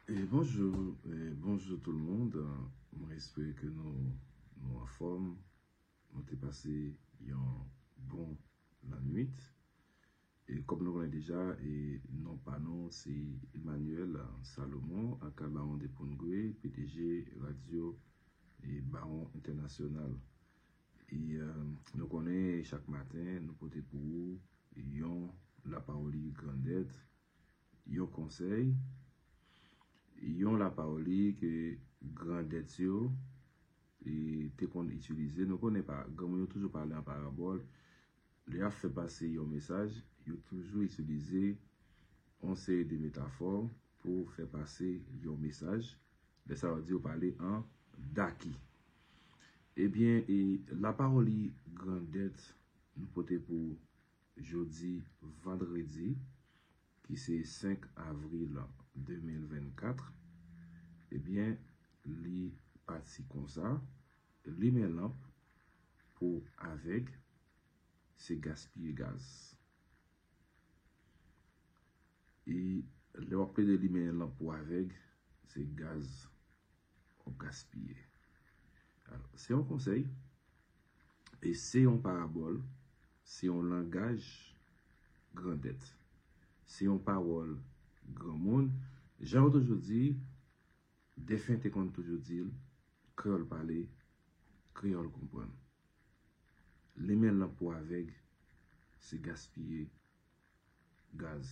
Bonjou, bonjou tout moun, mwen espere ke nou anfòm, nou te pase yon bon lannwit. E kòm nou konnen deja, non pa nou se Emmanuel Salomon aka Baron de Pongwe, pdg radyo Baron Entènasyonal. E nou konnen chak maten nou pote pou ou yon lapawoli grandèt Yon konsèy, yon lapawoli ke grandèt yo te konn itilize. Nou konnen pa, granmoun yo toujou pale an parabòl. Lè y ap fè pase yon mesaj, yo toujou itilize yon seri de metafò pou fè pase yon mesaj. Lè sa yo di yo pale an daki. Ebyen, e lapawoli grandèt nou pote pou Jodi vandredi ki se 5 avril 2024 ebyen li pati konsa, limen lanp pou avèg se gaspiye gaz. E lè wap plede limen lanp pou avèg se gaz. wap gaspiye. Alò, se yon konsèy, e se yon parabòl, se yon langaj grandèt, se yon pawòl granmoun, jan yo toujou di, defen te konn toujou di l, kreyòl pale, kreyòl konprann. Limen lanp pou avèg, se gaspiye gaz.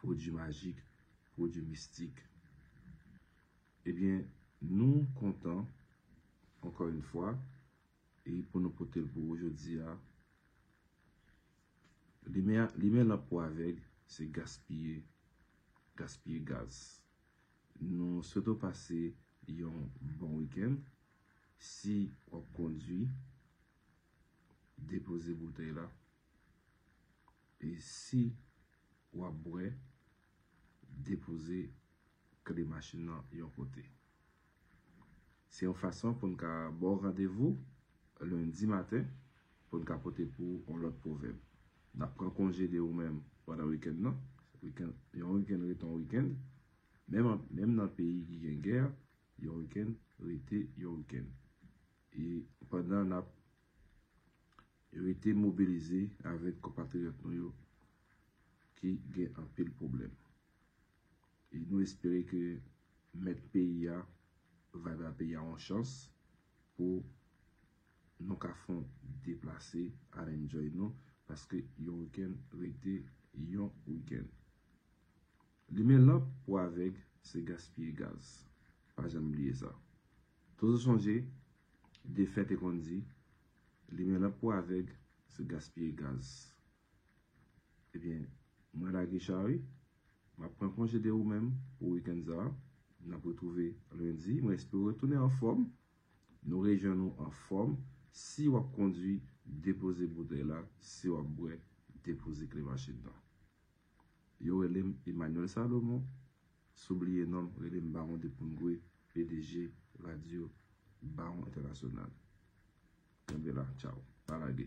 pwodui majik, pwodui mistik. Ebyen, nou kontan, ankò yon fwa, e pou nou pote l pou ou jodi a. Limen lanp pou avèg, se gaspiye, gaspiye gaz. Nou swete w pase yon bon wikenn. Si w ap kondui, depoze boutèy la. E si wap bwè, depoze kle machin nan yon kote. Se yon fason pou n ka ba w randevou lendi maten pou n ka pote pou ou yon lòt pwovèb. N ap pran konje de ou menm pandan wikenn nan. Yon wikenn rete yon wikenn. Menm nan peyi ki gen gè, yon wikenn rete yon wikenn. E pandan n ap Rete mobilize avèk konpatriyòt nou yo ki gen anpil pwoblèm. E nou espere ke mèt peyi a va ba peyi a yon chans pou nou ka fon deplase al enjoy nou paske yon wikenn rete yon wikenn. Limen lanp pou avèg se gaspiye gaz. Pa janm bliye sa. Toujou sonje Defè te konn di, Limen lanp pou avèg, se gaspiye gaz. Ebyen, mwen la Guichard wi. M ap pran konje de ou menm pou wikenn sa a. N ap retwouve lendi. Mwen espere w retounen anfòm. Nou rejwenn ou anfòm. Si w ap kondwi, depoze boutèy la. Si w ap bwè, depoze kle machin nan. Yo rele m Emmanuel Salomon. Si w bliye non m, rele m Baron de Poungoué, pdg Radyo Baron Entènasyonal. Kenbe la, tchaw. Pa lage.